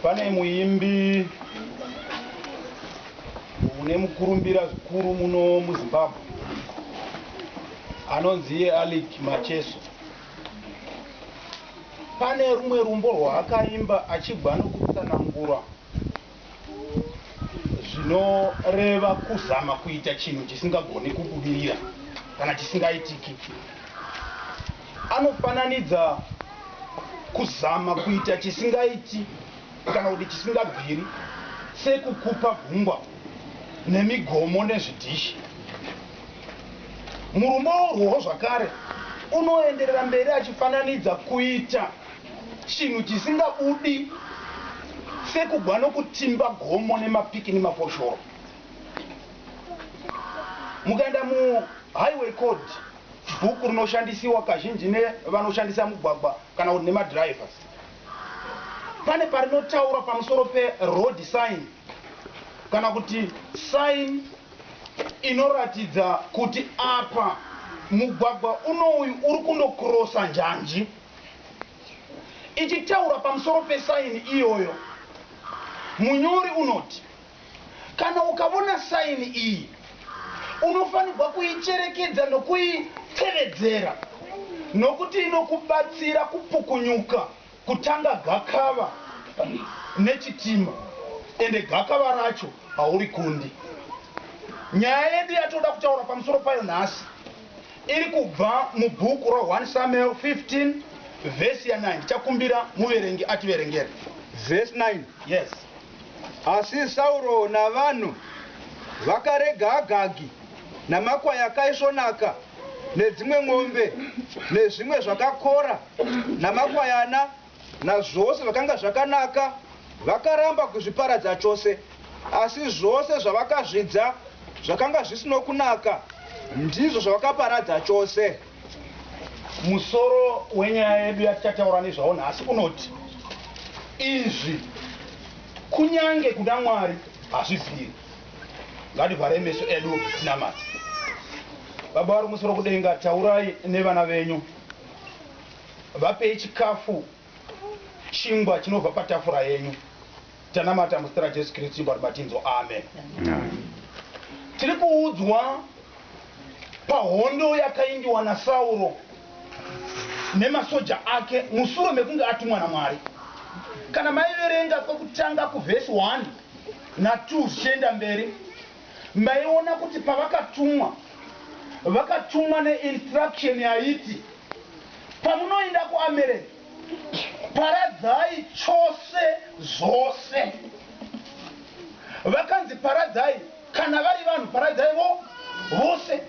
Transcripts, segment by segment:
pane muimbi une mukurumbira zvikuru muno muzimbabwe anonzi iye alic macheso pane rumwe rumbo rwaakaimba achibva nokutsanangura zvinoreva kuzama kuita chinhu chisingagoni kubudirira kana chisingaitiki. Anofananidza kuzama kuita chisingaiti kana kuti chisingabviri sekukupa gungwa nemigomo nezvidhishi. Murumbo urwowo zvakare unoenderera mberi achifananidza kuita Chinhu chisingabudi sekugwa nokutimba gomo nemapiki nemafoshoro. Mukaenda mu Highway Code, bhuku rinoshandisiwa kazhinji nevanoshandisa mugwagwa kana kuti nemadrivers, pane parinotaura pamusoro pe road sign kana kuti sign inoratidza kuti apa mugwagwa unouyu uri kunokirosa njanji. Ichitaura pamusoro pesaini iyoyo, munyori unoti, Kana ukavona saini iyi, unofanigwa kuicherekedza nokuitevedzera nokuti inokubatsira kupukunyuka kutanga gakava nechitima ende gakava racho haurikundi. Nyaya yedu yatoda kutaura pamusoro payo nhasi. Iri kubva mubhuku ra 1 Samuel 15 vhesi ya 9. Tichakumbira muverengi ativerengere. Vhesi 9. Yes. Asi Sauro navanhu vakarega Agagi namakwai akaisvonaka nedzimwe mombe nezvimwe zvakakora namakwayana Nazvose zvakanga zvakanaka vakaramba kuzviparadza chose, asi zvose zvavakazvidza zvakanga zvisino kunaka ndizvo zvavakaparadza chose. Musoro wenyaya yedu yatichataura nezvawo nhasi unoti, Izvi kunyange kuna Mwari hazvibviri. Ngativharei meso edu tinamate. Baba vari kumusoro kudenga, taurai nevana venyu. Vapei chikafu chingwa chinobva patafura yenyu. Tanamata muzita raJesu Kristu chingwa Mwari matinzwa amen. Tiri kuudzwa pahondo yakaindiwa naSauro nemasoja ake musure mekunge atumwa naMwari. Kana maiverenga kwekutanga kuvhesi 1 na 2 zvichienda mberi. ndaiona kuti pavakatumwa vakatumwa ne instruction yaiti pamunoinda ku America paradzai chose zvose vakanzi paradzai kana vari vanhu paradzai vo vose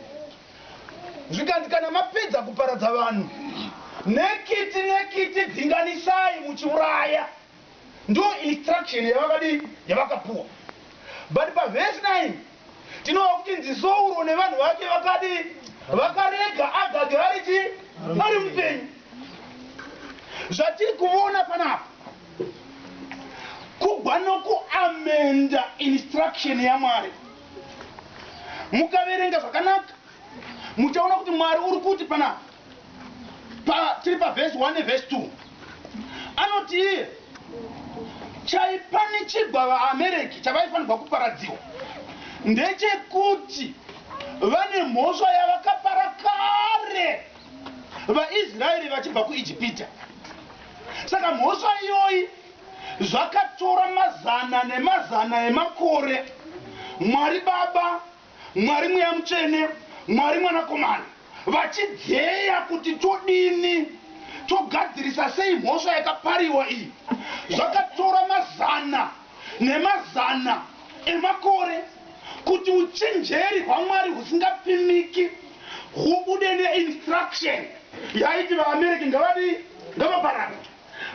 zvikanzi kana mapedza kuparadza vanhu nekiti nekiti dzinganisai muchiuraya Ndo instruction yavakadii yavakapuwa but pa verse 9 tinova kuchinzi Sauro nevanhu vake vakadii vakarega Agagi ari chii ari mupenyu. Zvatiri kuvona panapa kugwa noku amenda instruction yaMwari. Mukaverenga zvakanaka muchaona kuti Mwari uri kuti panapa. pa tiri pa verse 1 ne verse 2 anoti iye chaipa nechigwa vaamereki chavaifanirwa kuparadziwa ndechekuti vane mhosva yavakapara kare vaisraeri vachibva kuijipita saka mhosva iyoyi zvakatora mazana nemazana emakore mwari baba Mwari Mweya Mutsvene, Mwari Mwanakomana, vachidzeya kuti todini, togadzirisa sei mhosva yakapariwa iyi. Zvakatora mazana nemazana emakore kuti uchinjeri hwaMwari husingapimiki hubude ne instruction yaiti vaAmereki ngavadii, ngavaparadzwe.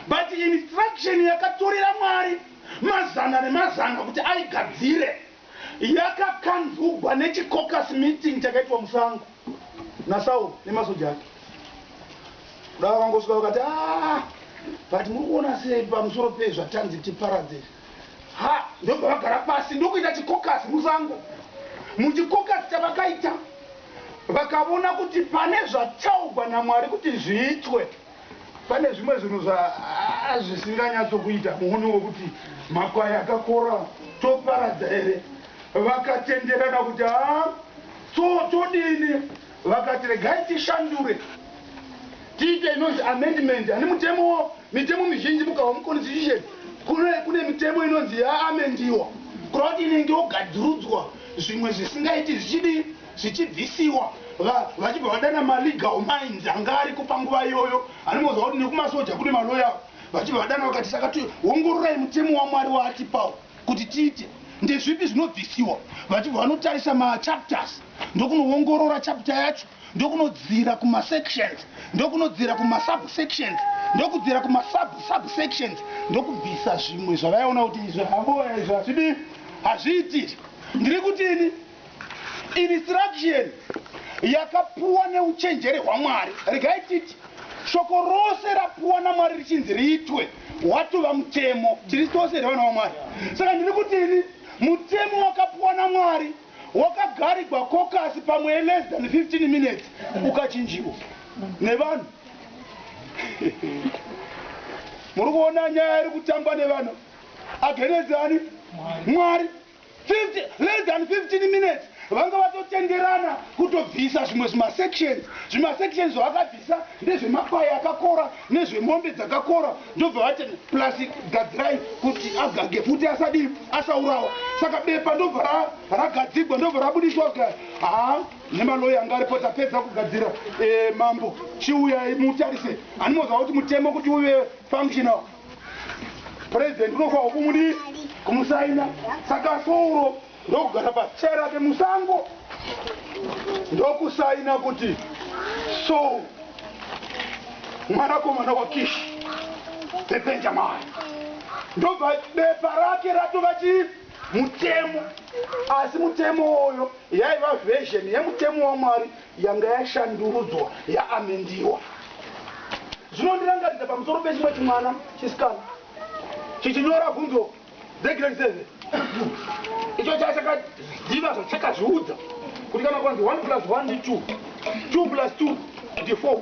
But instruction yakatorera Mwari mazana nemazana kuti aigadzire. yakakanzurwa nechicaucus meeting chakaitwa musango naSaul nemasoja ake. Kuda vakangosvika vakati, ah, but muri kuona sei pamusoro pezvatanzi tiparadze izvi? Ha, ndobva vagara pasi ndokuita chicaucus musango. Muchicaucus chavakaita vakavona kuti pane zvataugwa naMwari kuti zviitwe. pane zvimwe zvinhu zvaazvisinganyatso kuita muhuni wekuti makwai akakora toparadza here vakatenderana kuti haa so todini vakati regai tishandure tiite inonzi amendment ani mutemo mitemo mizhinji mukahwa muconstitution kune kune mitemo inonzi yaamendiwa kurava kuti inenge yogadzirudzwa zvimwe zvisingaiti zvichidii zvichibvisiwa va, vachibva vadana malegal minds anga ariko panguva iyoyo anomboziva kuti nekumasoja kune maloya avo vachibva vadana vakati saka tiongororai mutemo wamwari waatipawo kuti tiite ndezvipi zvinobvisiwa vachibva vanotarisa machapters ndokunoongorora chapter yacho ndokunodzira kumasections ndokunodzira kumasubsections ndokudzira kumasubsubsections ndokubvisa zvimwe zvavaiona kuti izvi havoya izvi hazvidi hazviitiri ndiri kutini Instruction yakapuwa neuchenjeri hwaMwari. Regai titi shoko rose rapuwa naMwari richinzi riitwe hwatova mutemo. Tiri tose here vana vaMwari? Saka ndiri kuti ini mutemo wakapuwa naMwari wakagarigwa kokasi pamwe less than 15 minutes ukachinjiwa nevanhu. Muri kuona nyaya iri kutamba nevanhu against ani? Mwari. 50, less than 15 minutes vanga vatotenderana kutobvisa zvimwe zvimasections zvimasections zvavakabvisa ndezvemakwai akakora nezvemombe dzakakora ndobva vati plus gadzirai kuti agage futi asadii asaurawa saka bepa ndobva ragadzigwa ndobva rabudiswa kuti haa nemaloya anga aripo tapedza kugadzira e, mambo chiuyai mutarise animoziva kuti mutemo kuti uve functional President unofanirwa kumudi kumusaina saka souro ndokugara pachair rake musango ndokusaina kuti so mwanakomana wakishi bebenjamai ndobva bepa rake ratova chii mutemo asi mutemo uyo yaiva version yemutemo wamwari yanga yashandurudzwa yaamendiwa. Zvinondirangaridza pamusoro pechimwe chimwana chisikana chichinyora bvunzo dzegiredi seven icho chaive chakaziva zvachakazviudza kuti kana kwanzi one plus one ndi two, two plus two ndi four.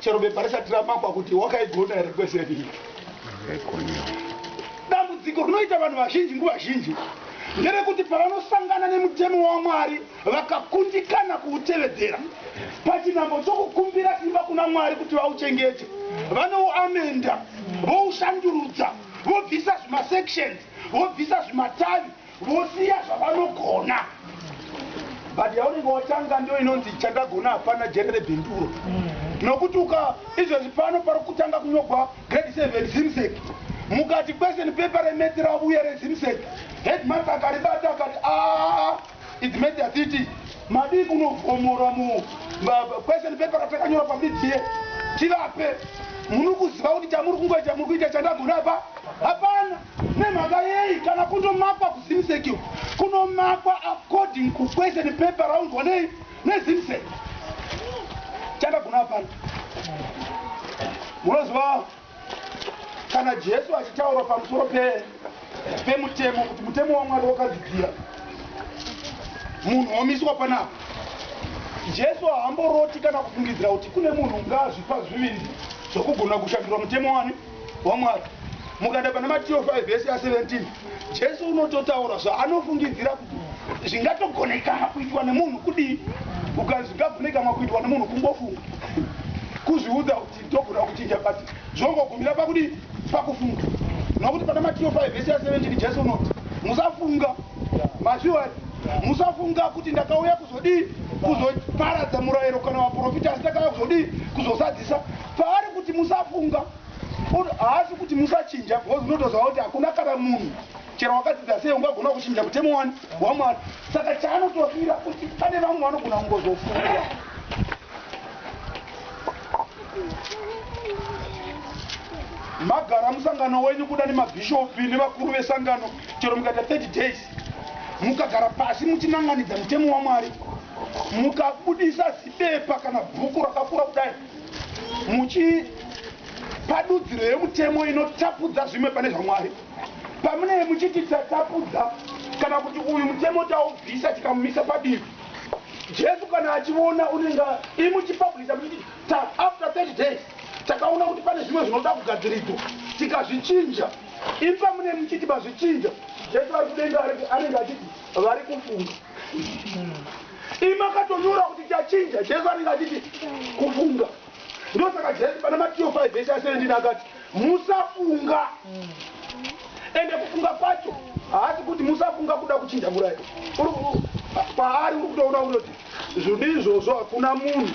Chero bepa risati ramakwa kuti wakaigona here kwese rii. Dambudziko rinoita vanhu vazhinji nguva zhinji nderekuti pavanosangana nemutemo waMwari vakakundikana kuutevedzera, pachinhambo chokukumbira simba kuna Mwari kuti vauchengete, vanouamenda, voushandurudza, vobvisa zvimasections, vobvisa zvimatavi, Vosiya zvavanogona but yaunenge watanga ndo inonzi chandagona hapana jere rebhinduro nokuti uka izvezvi pano pari kutanga kunyogwa grade 7 zimsec mukati question paper remets ravuya rezimsec headmas akaribata akati aa its mets atiti madii kunovhomora mu question paper ratakanyora pamidzie tivape munikuziva kuti chamuri kungoita muri kuita chandagona apa hapana Nemhaka yei kana kundomakwa kuZimsec uku kunomakwa according ku question paper raunzwa nei neZimsec? Chandagona hapana. Munoziva kana Jesu achitaura pamusoro pe pemutemo kuti mutemo waMwari wakadzidzira munhu womiswa panapa. Jesu haamboroti kana kufungidzira kuti kune munhu ungazvipa zvivindi zvokugona kushandura mutemo wani. waMwari. Mukaenda pana Matio 5 vhesi ya 17 Jesu unototaura zvaanofungidzira kuti zvingatogonekana kuitwa nemunhu kudii. Ukanzi zvingagonekanwa kuitwa nemunhu kungofunga, kuzviudza kuti ndogona kuchinja but zvongogumira pakudii, pakufunga. Nokuti pana Matio 5 vhesi ya 17 Jesu unoti musafunga mazviwa musafunga kuti ndakauya kuzodii kuzoparadza murayiro kana vaprofita asi ndakauya kuzodii kuzozadzisa Paari kuti musafunga or haasi kuti musachinja because unotoziva kuti hakuna kana munhu chero wakadzidza sei ungagona kuchinja mutemo wani waMwari. Saka chaanotofira kuti pane vamwe vanogona kungozofunga. Magara musangano wenyu kuda nemabhishopi nevakuru vesangano chero mukaita 30 days mukagara pasi muchinanganidza mutemo waMwari mukabudisa zibepa kana bhuku rakakura kudai muchipa dudziro yemutemo inotapudza zvimwe pane zvaMwari. Pamunenge muchiti tatapudza kana kuti uyu mutemo taubvisa tikamumisa padivi, Jesu kana achivona unenge imuchipabhulisa muchiti ta after 30 days takaona kuti pane zvimwe zvinoda kugadziridzwa tikazvichinja, ipa mune muchiti mazvichinja. Jesu ari kudenga anenge achiti vari kufunga. Imi makatonyora kuti chachinja Jesu anenge achiti kufunga. Ndosaka Jesu pana Matthew 5 verse 17 akati musafunga. Ende kufunga kwacho haasi kuti musafunga kuda kuchinja murairo. Paari uri kutoona kuti zvodi izvozvo hakuna munhu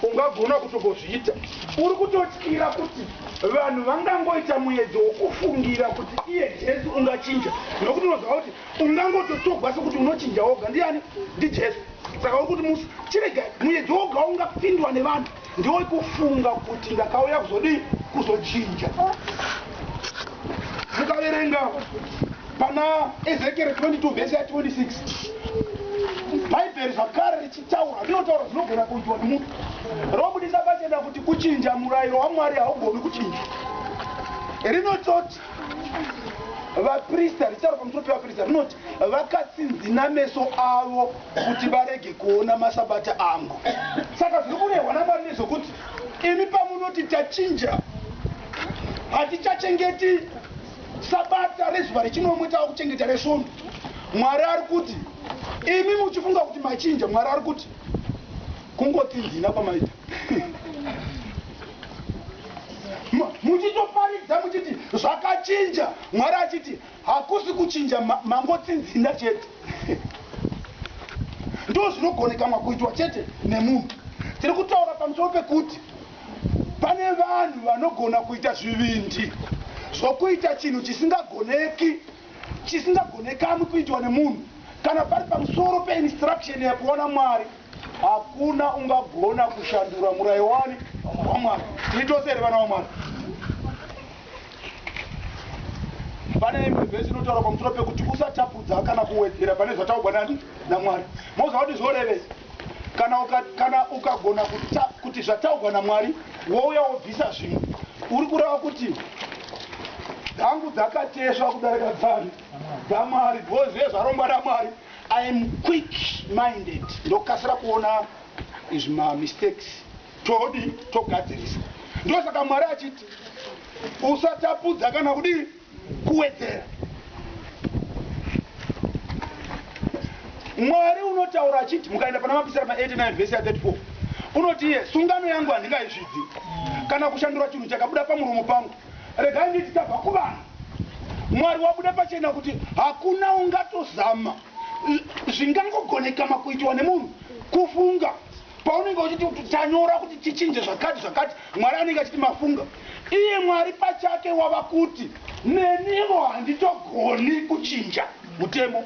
ungagona kutongozviita. Uri kutotyira kuti vanhu vangangoita muedzo wokufungira kuti iye Jesu ungachinja nokuti unoziva kuti Ungangototogwa sekuti unochinja woga. Ndiani? NdiJesu. Saka uri kuti musi chirega muyedzo woga waungapindwa nevanhu ndiwo kufunga kuti ndakauya kuzodii? Kuzochinja. Mukaverenga pana Ezekieri 22 vhesi ya 26 bhaibheri zvakare richitaura rinotaura zvinogona kuitwa nemunhu robudisa pachena kuti kuchinja murayiro wamwari haugoni kuchinja rinototi vaprista richitaura pamusoro pevaprista rinoti vakatsinzina meso avo kuti varege kuona masabata angu saka zviri kurehwa namwari nezvokuti imi pamunoti tachinja hatichachengeti sabata rezuva rechinomwe tava kuchengeta resvondo mwari ari kuti imi muchifunga kuti machinja mwari ari kuti Kungoti ndina kwamaita. Muchitoparidza muchiti zvakachinja, Mwari achiti hakusi kuchinja mangotsinzina chete. Ndoo zvinogonekamwa kuitwa chete nemunhu. Tiri kutaura pamusoro pekuti pane vanhu vanogona kuita zvivindi zvokuita chinhu chisingagoneki chisingagonekamwi kuitwa nemunhu kana pari pamusoro peinstruction yakuona Mwari. Hakuna ungagona kushandura murayo wani waMwari. Tiri tose here vana waMwari? Pane imwe vhesi inotaura pamusoro pekuti usatapudza kana kuwedzera pane zvataugwa nani naMwari. Moziva kuti zvorevei? Kana kana ukagona kuti zvataugwa naMwari wouya wobvisa zvimwe, uri kureva kuti dzangu dzakatesva kudarika dzani dzaMwari, bhozive zvarongwa naMwari. I am quick minded ndokasira kuona izvi ma mistakes todi togadzirisa ndosaka Mwari achiti usatapudza kana kudii kuwedzera. Mwari unotaura achiti mukaenda pana mapisarema 89 vhesi ya 34 unoti iye sungano yangu handingaizvidzi kana kushandura chinhu chakabuda pamuromo pangu Regai nditi tabva kuvanhu. Mwari wabuda pachena kuti hakuna ungatozama zvingangogonekama kuitiwa nemunhu kufunga paunenge uchiti kuti tanyora kuti tichinje zvakati zvakati mwari anenge achiti mafunga iye mwari pachake wava kuti nenivo handitogoni kuchinja mutemo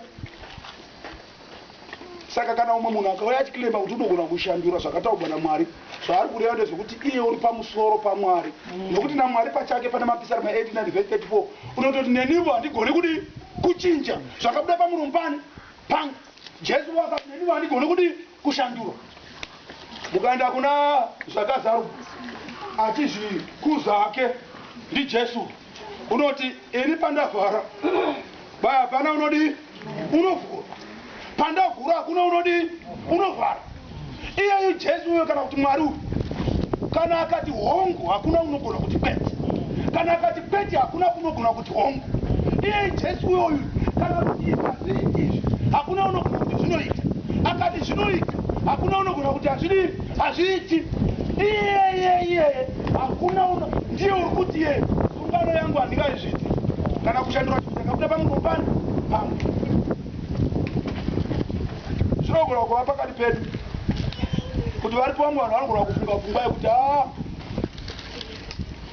Saka kana umwe munhu akauya achiclaima kuti unogona kushandura zvakataurwa naMwari, zvaari kureva ndezvekuti iye uri pamusoro paMwari, nokuti naMwari pachake pana Mapisarema 89 vhesi 34 unototi nenivo handigoni kudii kuchinja zvakabuda pamuromo pani pangu. Jesuvo akati nenivo handigoni kudii kushandura mukaenda kuna zvakazarwa achizvikuza hake ndijesu unoti ini pandavhara bai hapana unodii unovhura pandavhura hakuna unodii unovhara iyeyu jesu uyo kana kuti mwari uyu kana akati hongu hakuna unogona kuti kwete kana akati kwete hakuna kunogona kuti tongo iye jesu uyoyu kana kuti hazviri izvi hakuna unogona kuti zvinoita akati zvinoita hakuna unogona kuti hazviri hazviiti iyeye iyeye hakuna uno ndiye uri kuti ye sungano yangu handingaizviti kana kushandura chii ndakabuda pamuro pani pamwe zvinogona kuva pakati pedu kuti varipo vamwe vanhu vanogona kufunga pfungwa yekuti a ah,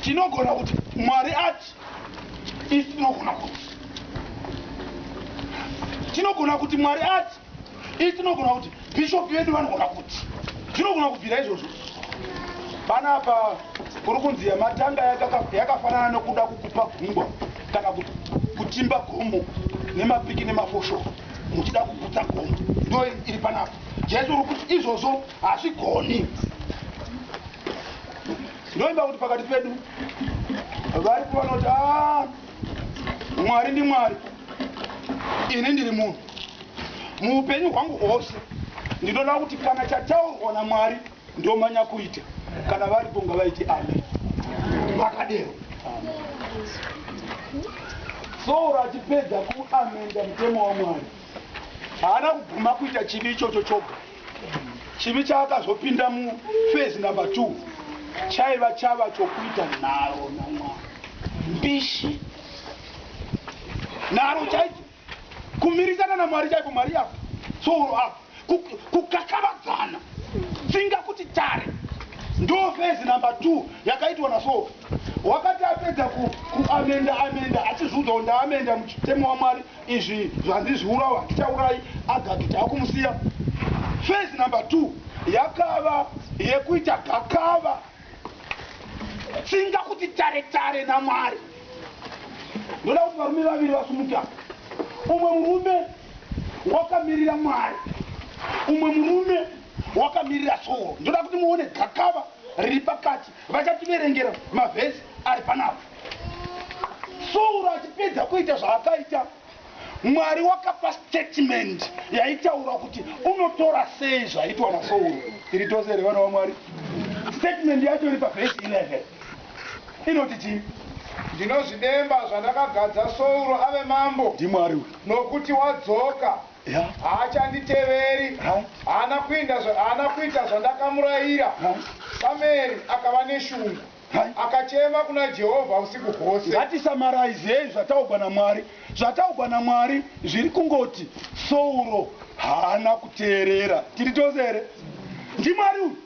tinogona kuti mwari ati Isu tinogona kuti tinogona kuti Mwari ati isu tinogona kuti bishop vedu vanogona kuti tinogona kubvira izvozvo panapa kuri kunzi yamatanga yakafanana nokuda kukupa gungwa kana kutimba gomo nemapiki nemafosho muchida kugutsa gomo ndo iri panapa jesu uri kuti izvozvo hazvigoni Ndinoimba kuti pakati pedu vari kuva noti ah, Mwari ndi Mwari, ini ndiri munhu. Muupenyu hwangu hwose ndinoda kuti kana chataurwa naMwari ndomanya kuita, kana varipo ngavaiti amen. Vakadero Sauro achipedza kuamenda mutemo waMwari haana kuguma kuita chivi ichocho choga. Chivi chaakazopinda muphase number two chaiva chava chokuita nharo namwari, mbishi, nharo chaidzo, kumirisana namwari chaiko, mwari yava tsoro apa, kukakavadzana tsinga kuti tare. Ndo phase number two yakaitwa naSofi. Wakati apedza kuamenda amenda achizviudzawo ndaamenda muchitemo waMwari. izvi zvandizviurawa handichaurai agagi takumusiya face number two yakava yekuita gakava tsinga kuti tare tare namwari ndoda kuti varume vaviri vasumuka umwe murume wakamirira mwari umwe murume wakamirira soo ndoda kuti muone gakava riri pakati Vachativerengera mavhesi ari panapa. Sauro achipedza kuita zvaakaita, Mwari wakapa statement yaitaura kuti unotora sei zvaitwa naSauro. Tiri tose here vana vaMwari? Statement yacho iri pavhesi 11 inoti chii? Ndinozvidemba zvandakagadza Sauro ave mambo, NdiMwari uyu. nokuti wadzoka. Haachanditeveri, haana kuinda zva, haana kuita zvandakamuraira. Samueri akava neshungu, akachema kuna Jehovha usiku hwose. Ngatisamaraizei zvataugwa naMwari. Zvataugwa naMwari zviri kungoti, Sauro haana kuteerera. Tiri tose here? NdiMwari uyu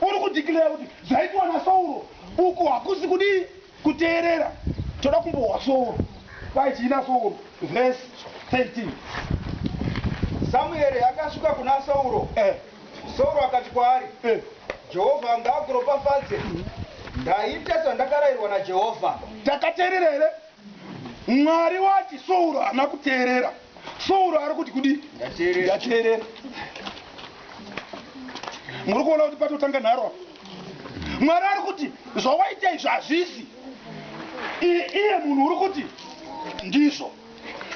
uri kudhikireya kuti zvaitwa naSauro uku hakusi kudii? Kuteerera toda kumbohwa sooro kwai chiina sooro vhesi 13 Samueri akasvika kuna Sauro eh. Sauro akati kwaari eh. Jehovha ngaakuropafadze ndaita sandakarairwa naJehovha. Takateerera here? Mwari wati Sauro haana kuteerera. Sauro ari kuti kudi ndateerera. Muri kuona kuti patotanga nharo apa. mwari ari kuti zvawaita izvo hazvisi iye munhu uri kuti ndizvo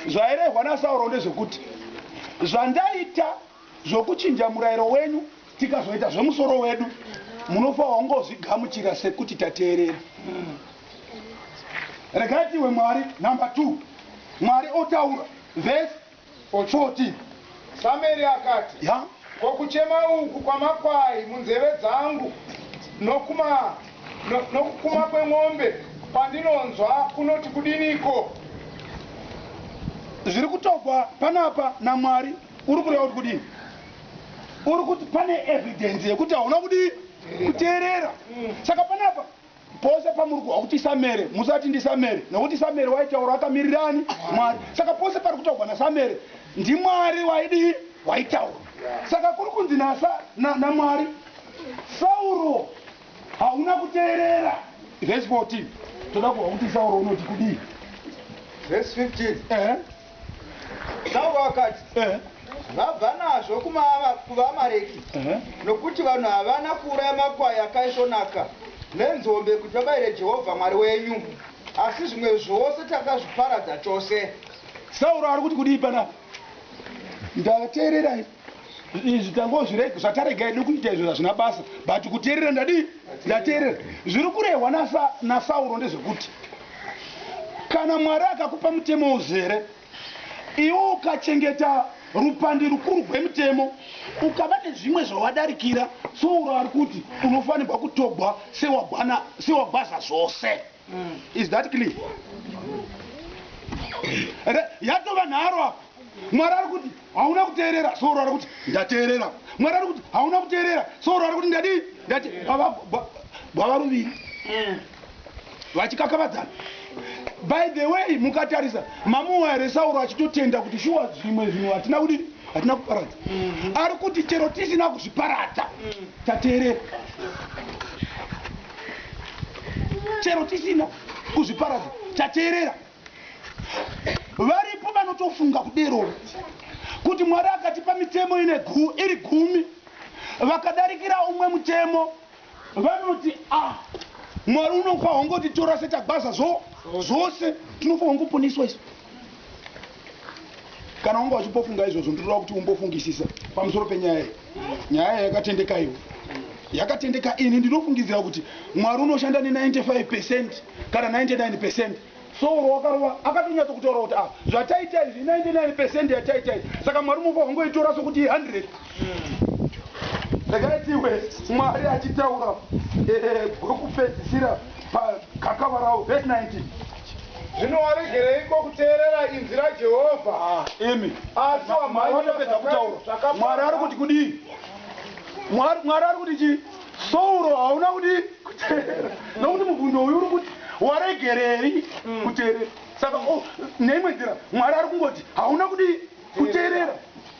zvairehwa nasauro ndezvekuti zvandaita zvokuchinja murayiro wenyu tikazoita zvemusoro wedu munofa wangozvigamuchira sekuti tateerera regai tiwe mwari number two mwari otaura vhesi Ochoti, Samueri akati, Ya. Ko kuchema uku kwamakwai munzeve dzangu nokuma, no, nokukuma kwemombe kwandinonzwa kunoti kudiniko? Zviri kutogwa panapa naMwari uri kureva kuti kudini? Uri kuti pane evidence yekuti hauna kudii? Kuteerera. Saka panapa Pose pamuri kuhwa kuti Samere, musati ndiSamere, nokuti Samere waitaura akamirirani? Mwari. Saka pose pari kutaugwa naSamere, ndiMwari waidii? Waitaura. Saka kuri kunzi naSa, na, naMwari, Sauro, hauna kuteerera. Verse 14. Toda kuhwa kuti Sauro unoti kudii. Verse 15. Ehe. Saka vakati, Vabva nazvo kuvaAmareki, nokuti vanhu havana kuuraya makwai akaisvonaka nenzombe kuti vabayire Jehovha Mwari wenyu, asi zvimwe zvose takazviparadza chose. Sauro ari kuti kudii panapa? Ndateererai. izvi tangozvirega zvatarega hedu kuita izvo zvazvina basa but kuteerera ndadii ndateerera zviri kurehwa nasauro ndezvekuti kana mwari akakupa mutemo uzere iwo ukachengeta rupandi rukuru rwemutemo ukava nezvimwe zvawadarikira sauro ari kuti unofanirwa kutogwa sewagwaza zvose mm. is that clear yatova nharo apa mwari ari kuti Hauna kuteerera so urare kuti ndateerera. Mwari ari kuti hauna kuteerera so urare kuti ndadii ndate baba ba- baba ruviri vachikakavadzana. By the way mukatarisa mamuwa here Sauro achitotenda kuti shuwa zvimwe zvinhu hatina kudii hatina kuparadza. Ari kuti chero tisina kuzviparadza tateerera. Chero tisina kuzviparadza tateerera. Varipo vanotofunga kudero kuti Mwari akatipa mitemo ine gu, iri gumi vakadarikira umwe mutemo vanoti ah, Mwari unofa hongoti tora setagwaza zvo zvose tinofa hongoponeswa isu. Kana wanga uchimbofunga izvozvo, ndinoda kuti umbofungisisa pamusoro penyaya iyi. Nyaya iyi yakatendeka iwe. Yakatendeka ini ndinofungidzira kuti Mwari unoshanda ne 95% kana 99%. Sauro wakarova akatonyatso kutaura kuti ah zvataita izvi i 99% yataita izvi saka Mwari unofanirwa kungoitora sokuti i 100. Ndakatiwe mwari achitaura gwekupedzisira pagakava ravo vhesi 19. Zvino waregereiko kuteerera inzwi raJehovha? Ah, imi asi wamhanyira kutaura. Mwari ari kuti kudii? Mwari ari kuti chii? Sauro hauna kudii kuteerera? Nokuti mubvundo uyu uri kuti waregerei mm. kuteerera? Saka oh, neimwe nzira Mwari ari kungoti hauna kudii kuteerera?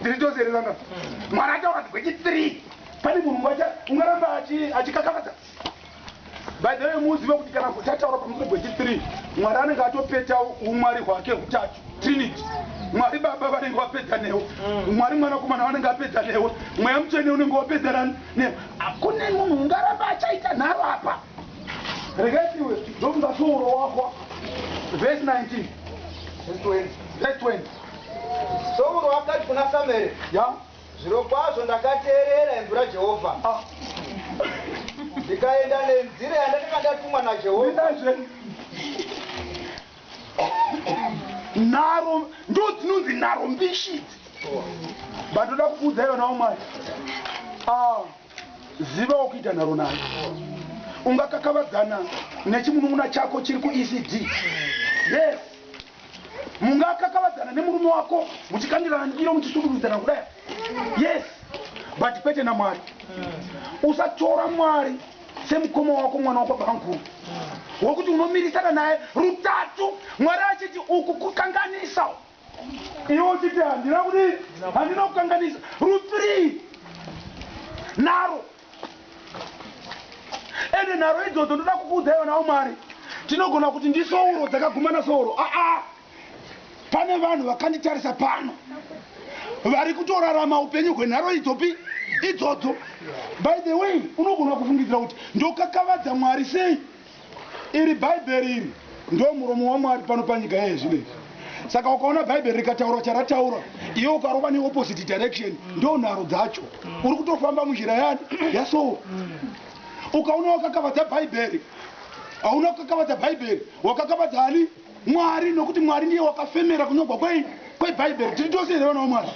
ndiri chose here vanga mwana ataura kuti gwechi 3 pane munhu wacha ungaramba achikakamadza by the way muzive kuti kana kuti ataura pamusoro gwechi 3 mwari anenge atopeta umwari hwake hutatu trinity mwari baba vanenge vapedza newe mm. mwari mwanakomana vanenge vapedza newe mweya mutsvene unenge wapedzana newe akune munhu ungaramba achaita nharo apa rekaiwe ndokunga souro wako vhesi 19 vhesi 20 Sauro akati kuna Samueri, Yeah. Zvirokwazvo ndakateerera inzwi raJehovha, Ah. ndikaenda nenzira yandakanga ndatumwa naJehovha. Ndinazve. Nharo ndo dzinonzi nharo mbishi idzi. Batoda kuudza ivo nawo mwana. Ah. Ziva wakuita nharo nayo. Ungakakavadzana nechimunun'una chako chiri kuECD. Yes. mungakakavadzana nemurume wako muchikandirana ndiro muchisudurudzana kudai yes but kwete namwari usatora mwari semukoma wako mwana wako banguru wekuti unomirisana naye rutatu mwari achiti uku kukanganisa iwe uchiti handina kudii handina kukanganisa ruthree naro ende nharo idzodzo ndoda kukuudzai vana vamwari tinogona kuti ndisouro dzakagumana souro aa pane vanhu vakanditarisa pano vari kutorarama upenyu hwenharo idzopi idzodzo by the way unogona kufungidzira kuti ndokakavadza mwari sei Iri Bhaibheri iri ndo muromo waMwari pano panyika yeye zvino izvi. Saka ukaona Bhaibheri rikataura charataura, iwe ukarova neopposite direction, ndo nharo dzacho. Uri kutofamba munjira yani yaSoul. Ukaona wakakavadza Bhaibheri, hauna kukakavadza Bhaibheri, wakakavadza ani? Mwari, nokuti Mwari ndiye wakafemera kunyogwa kwei? KweBhaibheri. Tiri tose here vana vaMwari?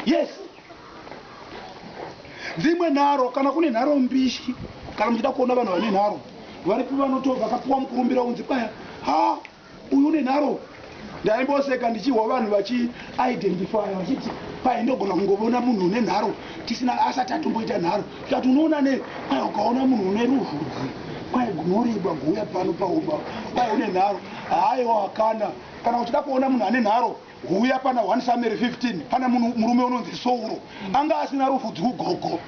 Yes. dzimwe nharo kana kune nharo mbishi kana muchida kuona vanhu vane nharo varipi vanoto vakapuwa mukurumbira unzi baya ha uyu une nharo ndaimboseka ndichihwa vanhu vachiidentifya vachiti pai ndogona kungovona munhu une nharo tisina asati atomboita nharo tikati unoona nei kwai ukaona munhu une ruvhudzi kwai gunorebwa guuya pano paumba kwai une nharo haiwa kana kana uchida kuona munhu ane nharo Huya pana one Samueri 15 pana munhu murume unonzi Sauro anga asina rufu dzvu gogo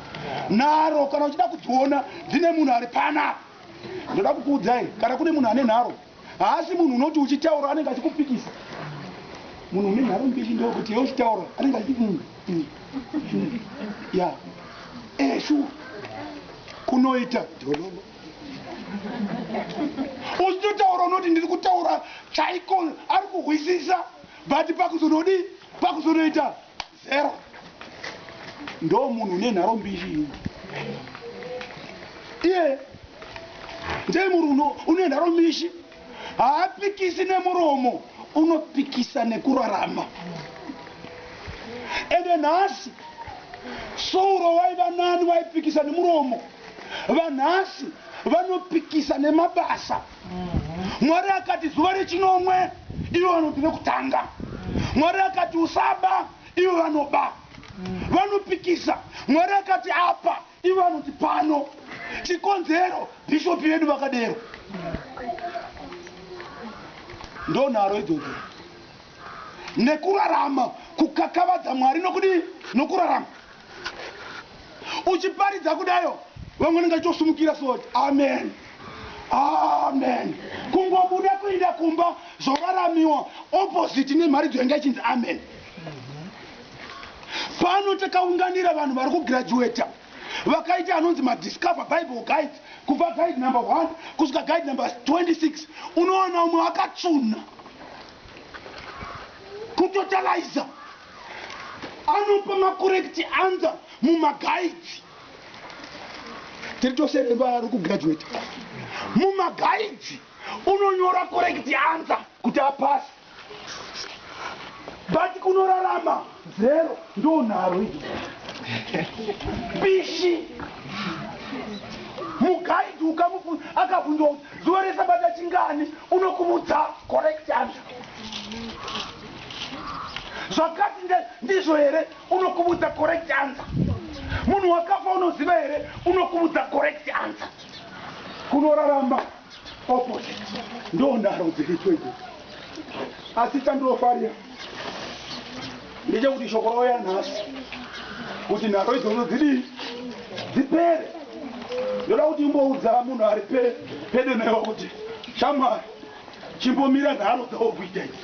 nharo kana uchida kudziona dzine munhu ari pana ndoda kukuudzai kana kune munhu ane nharo haasi munhu unoti uchitaura anenge achikupikisa munhu une nharo mbili ndokuti ye uchitaura anenge achiti mm, mm, mm, ya eshu kunoita jololo uchitotaura unoti ndiri kutaura chaiko ari kuhwisisa but pakuzonodii pakuzonoita zero ndo munhu une nharo mbiri iye ndee munhu une nharo mishi haapikisi nemuromo unopikisa nekurarama ende nhasi souro waiva nani waipikisa nemuromo vanhasi vanopikisa nemabasa mwari akati zuva rechinomwe ivo vanoti rekutanga mwari akati usaba ivo vanoba vanopikisa mwari akati apa Ivo vanoti pano chikonzero bhishopi vedu vakadero ndonharo idzodzo nekurarama kukakavadza mwari nokudii nokurarama uchiparidza kudayo vamwe nenge chitosumukira soti amen amen kungobuda kuenda kumba zvoraramiwa opposite nemharidzo yanga ichinzi amen Pano takaunganira vanhu vari kugraduata vakaita anonzi madiscover bible guides kubva guide number 1 kusvika guide number 26 unowana umwe akatsvuna kutotaliza anopa macorrect answer mumagaidzi tiri tose vari kugraduata mumagaidzi unonyora correct answer kuti apasi but kunorarama zero ndonharo idi bishi mugaidi ukamufu akabvunzwa kuti zuva resabata chingani unokumudza correct answer zvakati ndizvo here unokumudza correct answer munhu wakafa unoziva here unokumudza correct answer kunorarama opposite ndonharo dziri twege asi chandinofarira ndechekuti shoko rouya nhasi kuti nharo idzodzo dzidii dzipere ndoda kuti imboudza munhu ari pedo newe kuti shamwari chimbomira nharo dzawo kuita idzi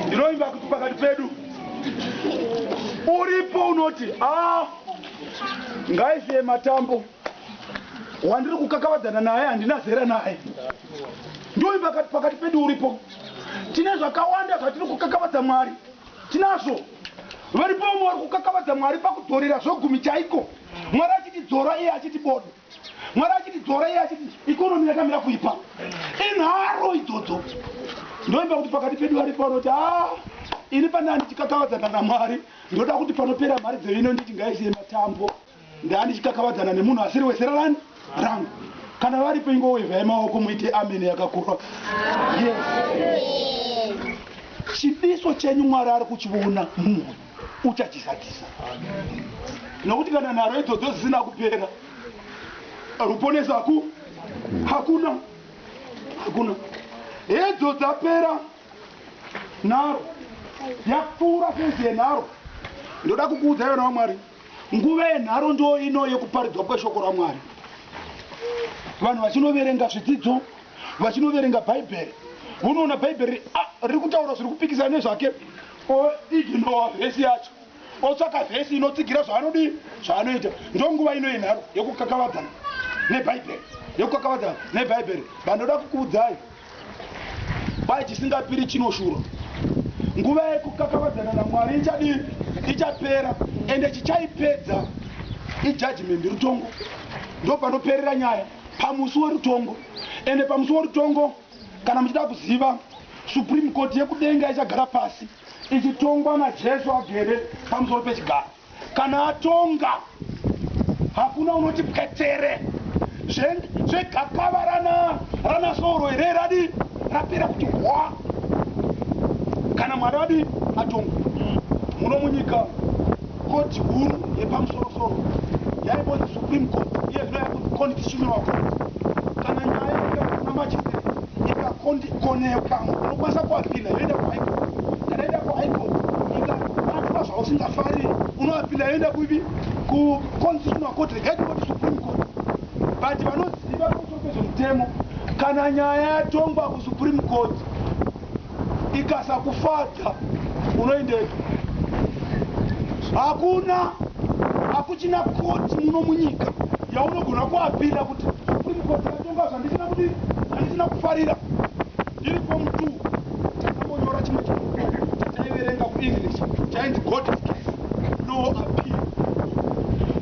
ndinoimba kuti pakati pedu uripo unoti a ah, Ngaisiye matambo wandiri kukakavadzana naye handina zera naye. Nduri pakati pakati pedu uripo. Tine zvakawanda zvatiri kukakavadza Mwari. Tinazvo. Varipo vamwe vari kukakavadza Mwari pakudzorera zvegumi chaiko. Mwari achiti dzora iye achiti bodo. Mwari achiti dzora iye achiti economy yakamira kuipa. Inharo idzodzo. Ndoimba kuti pakati pedu varipo vanoti ah ini pandanga ndichikakavadzana naMwari ndoda kuti panopera mari dzevino nditi ngaisiye matambo. Ndanga ndichikakavadzana nemunhu asiri wezera rani rangu. Kana varipo ingowevhai maoko muite amen yakakura. Yes. Chidiso chenyu Mwari ari kuchiona mumwoyo. uchachizadzisa nokuti kana nharo idzodzo dzisina kupera ruponeso haku hakuna hakuna hedzo dzapera nharo yapfuura fenzi yenharo ndoda kukuudza yona wamwari nguva yenharo ndo ino yekuparidzwa kweshoko ramwari vanhu vachinoverenga zvidzidzo vachinoverenga bhaibheri unoona bhaibheri ah, riri kutaura zviri kupikisana nezvake O ignore verse yacho otsvaka verse inotsigira zvaanodii zvaanoita. Ndonguva ino yenharo yekukakavadzana nebhaibheri yekukakavadzana nebhaibheri bandoda kukuudzai kwai chisingapiri chinoshura. Nguva yekukakavadzana naMwari ichadii ichapera ende chichaipedza ijudgement rutongo ndopanoperera nyaya pamusi werutongo ende pamusi werutongo Kana muchida kuziva, Supreme Court yekudenga ichagara pasi ichitongwa naJesu agere pamusoro pechigaro. Kana atonga, hakuna unoti pwetere. Zvegakava rana rana soro here radi rapera kuti hwa. Kana Mwari adi atonga muno munyika. Koti huru yepamusoro soro yaimbonzi Supreme Court iye zvino yava kunzi Constitutional Court. Kana nyaya yauya kuna magistrate ikakonekwa unokwanisa kuapila yoenda kuHigh Court. Kana yoenda kuHigh Court ikabatwa zvausingafarire unoapila yoenda kuipi kuConstitutional Court regai tingoti Supreme Court. But vanoziva pamusoro pezvemutemo kana nyaya yatongwa kuSupreme Court ikasakufadza unoendepi hakuna hakuchina koti muno munyika yaunogona kuapira kuti supreme court yatonga zvandisina kuti zvandisina kufarira ndiri form t takambonyora chimwe chibhuku chataiverenga kuenglish chainzi god's case no appeal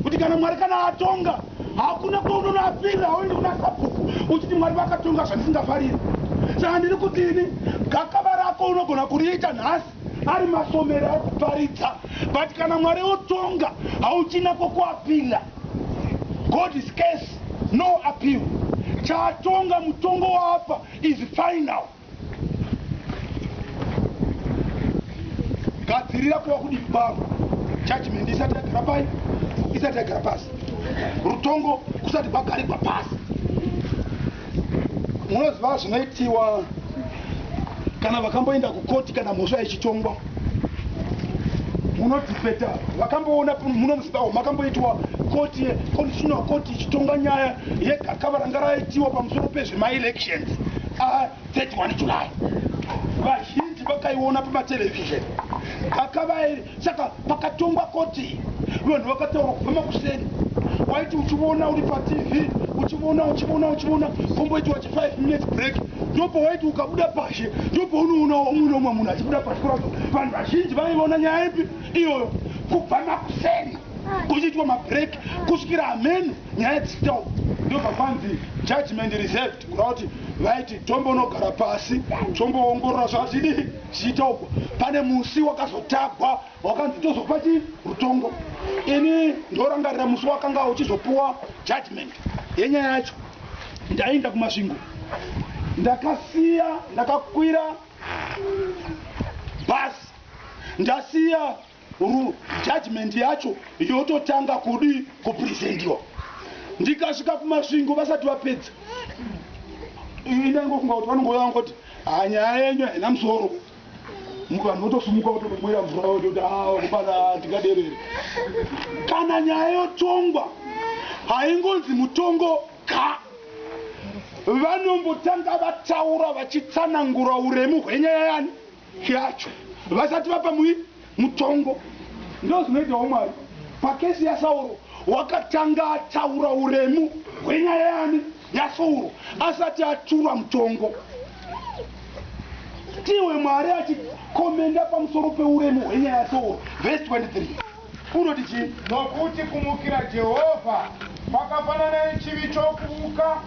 kuti kana mwari kana atonga Hakuna kwaunonoapirira hauendi kuna Sabhuku uchiti Mwari vakatonga zvandisingafariri. Saka ndiri kuti ini gakava rako unogona kuriita nhasi ari masomero ekuparidza but kana Mwari otonga hauchina kwokuapirira. God is case no appeal. Chaatonga mutongo waapa is final. gadzirira kuva kudii kwavo judgment isati yagara pai isati yagara pasi rutongo kusati kwagarigwa pasi munoziva zvinoitiwa kana vakamboenda kukoti kana mhosva yechitongwa munotipeta vakamboona muno muzimbabwe makamboitwa koti constitutional court ichitonga nyaya yegakava ranga raitiwa pamusoro pezvemaelections a31 july vazhinji vakaiona pamatelevision gakavairi saka pakatongwa koti vanhu vakataura kubva makuseni waiti uchiona uri patv uchiona uchiona uchiona komboitiwa 5 minutes break ndopo waiti ukabuda pashe ndopo unoona umwe nomwe munhu achibuda pashe kuraza vanhu vazhinji vaiona nyaya ipi iyoyo kubva makuseni kuchiitwa mabreak kusvikira hameno nyaya dzitau ndobva kwanzi judgment reserved kurava kuti vaiti tombonogara pasi tomboongorora zvazvidi zvichitaugwa pane musi wakazotagwa Wakanzi tozokupa chi rutongo. Ini ndorangarira musi wakanga uchizopuwa judgment yenyaya yacho. Ndaiinda kuMasvingo. Ndakasiya ndakakwira bus ndasiya ru judgment yacho yototanga kudi kupresentiwa. Ndikasvika kuMasvingo vasati vapedza. Ini ndaingofunga kuti vanongouya vangoti ah nyaya yenyu haina musoro. Mukanhu wotosumuka wotodomwera mvura wototi awa kubana ndingaderere. Kana nyaya yotongwa haingonzi mutongo ka. Vanombotanga vataura vachitsanangura uremu hwenyaya yani yacho vasati vapa mui. Mutongo ndozvinoita wamwari. Pakesi yaSauro wakatanga ataura uremu hwenyaya yaani? YaSauro asati atura mutongo. Tiwe mwari achi commenda pamusoro peuremu hwenyaya yaSauro verse 23. Unoti chii? Nokuti kumukira Jehovha kwakafanana nechivi chokuvuka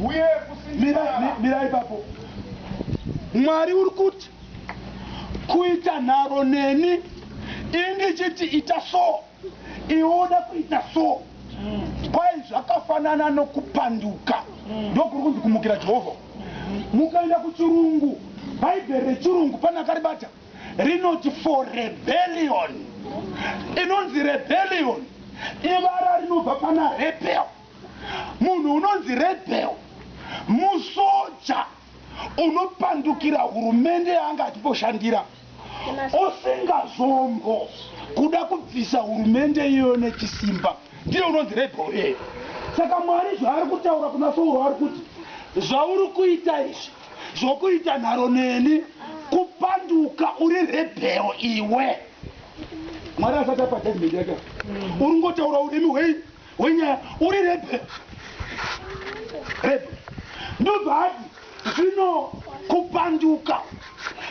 uye Mirai, mi, kusinjirara. mirai ipapo. Mwari uri kuti kuita nharo neni indichiti ita so iwe uda kuita so kwai zvakafanana nokupanduka ndokuri kunzi kumukira jehovha mukaenda kuchirungu bhaibheri rechirungu pane akaribata rinoti for rebellion inonzi rebellion ivara rinobva pana rebel munhu unonzi rebel musoja unopandukira hurumende yaanga achimboshandira usingazombo kuda kubvisa hurumende iyoyo nechisimba ndiye unonzi rebho iyeyo saka mwari zvaari kutaura kuna sauro ari kuti zvauri kuita izvi zvokuita nharo neni kupanduka uri rebheo iwe mwari asati apa judgment yake uri ngotaura urimi hwei wenyaya uri rebe rebe ndobva ati zvino kupanduka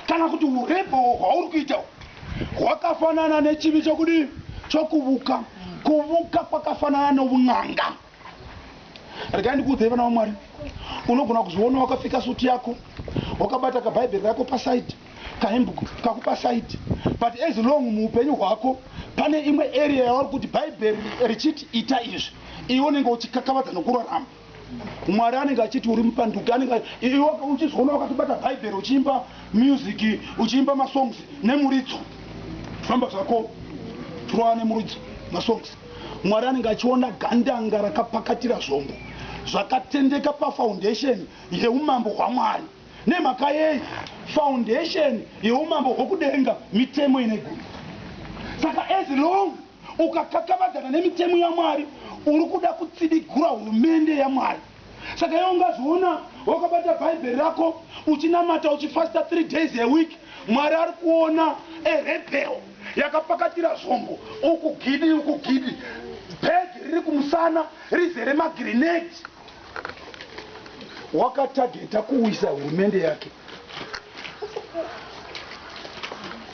kana kuti urebho hwauri kuita hwakafanana nechivi chokudii chokuvuka kuvuka kwakafanana noun'anga regai ndikuudzei vana vamwari unogona kuzviona wakapfeka suti yako wakabata kabhaibheri rako pasaidi kahembe kakupa side but as long muupenyu hwako pane imwe area yauri kuti bhaibheri richiti ita izvi iwe unenge uchikakavadza nokurarama mwari anenge achiti uri mupanduki anenge iwe uchizoona wakatobata bhaibheri uchiimba music uchiimba masongs nemuridzo famba zvako trowa nemuridzo masongs mwari anenge achiona gandanga rakapakatira zvombo zvakatendeka pafoundation yeumambo hwamwari Nemhaka yei? Foundation yeumambo hwokudenga mitemo ine gumi. Saka as long ukakakavadzana nemitemo yaMwari uri kuda kutsidigura hurumende yaMwari. Saka iwe ungazviona wakabata bhaibheri rako uchinamata uchifasta three days a week Mwari ari kuona a rebel yakapakatira zvombo uku gidi uku gidi bag riri kumusana rizere magrenade. wakatageta kuwisa hurumende yake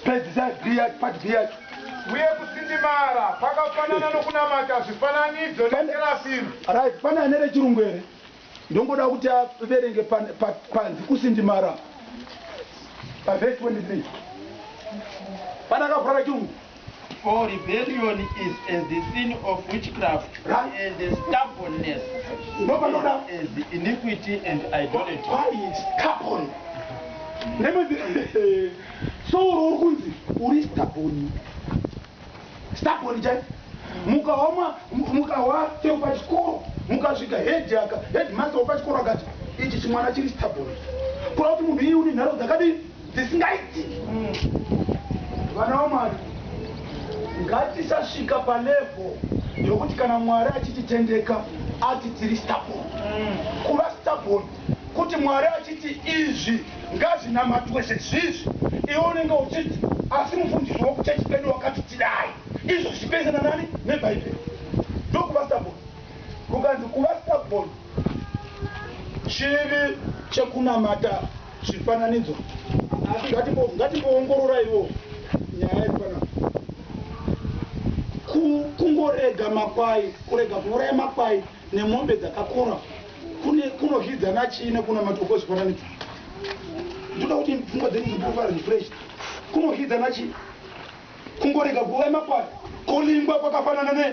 pedzisa bia part b yacho uye kusindimara kwakafanana nokunamata zvifananidzo neterafimu right pane ane rechirungu here ndongoda kuti averenge pan- pa- panzi kusindimara pavhesi 23 pane akavhura rechirungu For rebellion is as the sin of witchcraft, Right. and the stubbornness No, but no, no. is as iniquity and idolatry. Why stubborn? Nemedzi so uri uri kunzi uri stubborn. Stubborn chai. Mukawa ma mu- mukawa chero pachikoro mukasvika head aka headmaster wepachikoro akati ichi chimwana chiri stubborn. Kura kuti munhu iyi une nharo dzakadini? dzisingaitiki vana vamwari ngatisasvika palevel yokuti kana mwari achititendeka ati tiri stabon kuva stabon kuti mwari achiti izvi ngazvinamatwe sezvizvi iwe unenge uchiti asi mufundisi wokuchechi pedu wakati tidai izvo zvichipenana nani nebhaibheri ndokuva stabon kukanzi kuva stabon chivi chekunamata zvifananidzo asi ngatimbo- ngatimboongororaiwo nyaya iri panapa Ku- kungorega makwai kurega kuuraya makwai nemombe dzakakura kune kunozvidzana chii nekunamatiwa kwezvifananidzo ndoda kuti pfungwa dzenyu dzipurupara refresh kunozvidzana chii kungorega kuuraya makwai kolingwa kwakafanana ne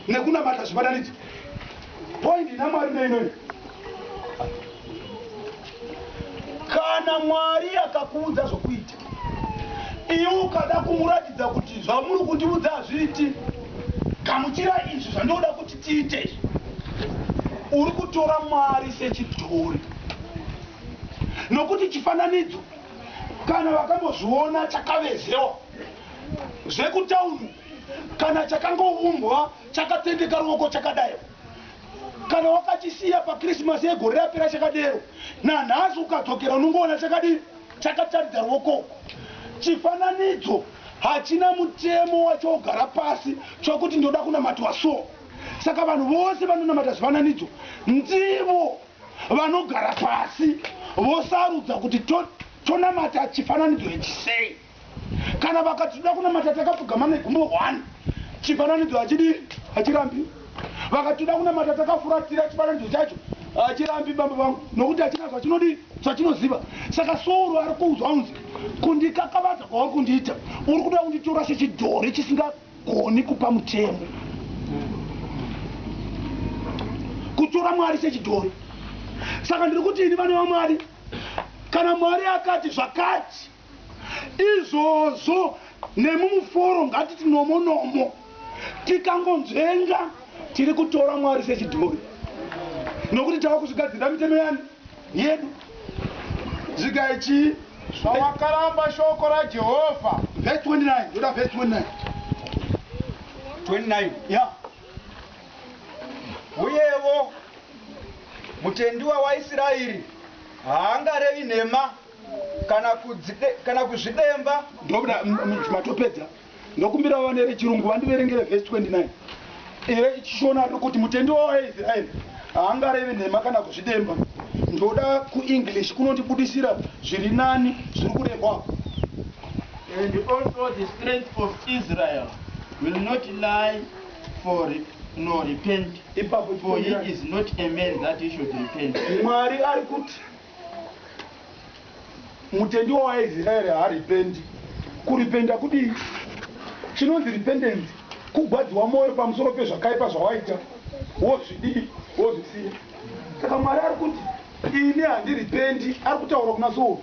nekunamata zvibatanidzi poindi namwari neinoi kana mwari akakuudza zvokuita iwe ukada kumuratidza kuti zvamuri kundiudza hazviiti gamuchira izvi zvandinoda kuti tiite izvi uri kutora mwari sechidhori nokuti chifananidzo kana vakambozviona chakavezewa zvekutown kana chakangoumbwa chakatendeka ruoko chakadai kana wakachisiya pachristmas yegore rapera chakadero nanhasi ukadzokera unongoona chakadii chakataridza ruoko chifananidzo hachina mutemo wachogara pasi chokuti ndoda kunamatwa so saka vanhu vose vanonamata zvifananidzo ndivo vanogara pasi vosarudza kuti tonamata chifananidzo ichisei Kana vakati tinoda kunamata takapfugama negumo one, chifananidzo hachidii, hachirambi. Vakati tinoda kunamata takafuratira chifananidzo chacho, hachirambi bambo vangu, nokuti hachina zvachinodii, zvachinoziva. Saka Sauro ari kuudzwa unzi, kundikakavadza kwauri kundiita, uri kuda kunditora sechidhori chisingagoni kupa mutemo. Kutora Mwari sechidhori. Saka ndiri kuti ini vana vaMwari, kana Mwari akati zvakati, Izvozvo nemi muforo ngatiti nomo nomo tikangonzvenga tiri kutora Mwari sechidhori nokuti tava kuzvigadzirira mitemo yani? Yedu. Dzigai chii? Zvawakaramba shoko raJehovha. Verse 29. Ndoda verse 29. 29. Yeah. Uyevo mutendi wawaIsiraeri haangarevi nhema kana kudzide kana kuzvidemba ndoda matopedza ndokumbira vane rechirungu vandiverengere verse 29 ire chishona riri kuti mutendi wavo aisraeri haangarevi nhema kana kuzvidemba ndoda kuenglish kunondibudisira zviri nani zviri kurehwa and also the strength of israel will not lie for nor repent ipapo for he is not a man that he should repent mwari ari kuti Mutendi wawaizira here haripendi. Kuripenda kudii? Chinonzi repentance kugwadziwa moyo pamusoro pezvakaipa zvawaita wozvidii wozvisiya. Saka Mwari ari kuti ini handiripendi ari kutaura kuna Sauro.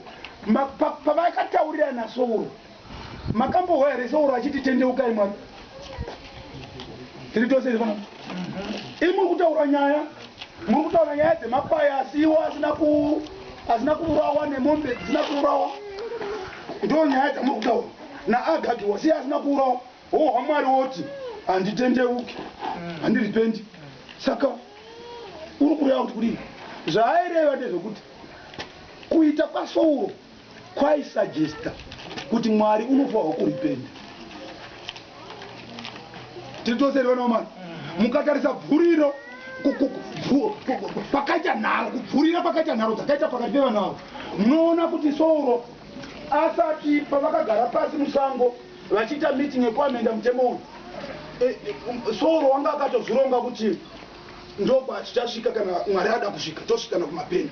Pavaakataurirana Sauro Makambohwa here so oro achiti tendeukai mwari tiri tose iri pano ii muri kutaura nyaya muri kutaura nyaya dzemakwai asi iwo asina ku asina kuurawa nemombe dzisina kuurawa ndo nyaya dzamuri kutaura naagagi wasi asina kuurawa hohwa mwari woti handitendeuki handiripendi saka uri kureva kuti kudii zvaaireva ndezvekuti kuita kwasouro Kwai suggesta kuti mwari unofawa kuripenda tiri tose here vana vamwari mukatarisa bvuriro pakaita nharo kubvurira pakaita nharo dzakaita pakati pevana avo munoona kuti souro asati pavakagara pasi musango vachiita meeting yekuamenda mutemo uyu e, e, um, souro wanga akatozvironga kuti ndokwachichasvika kana mwari ada kusvika tosvikana kumapeni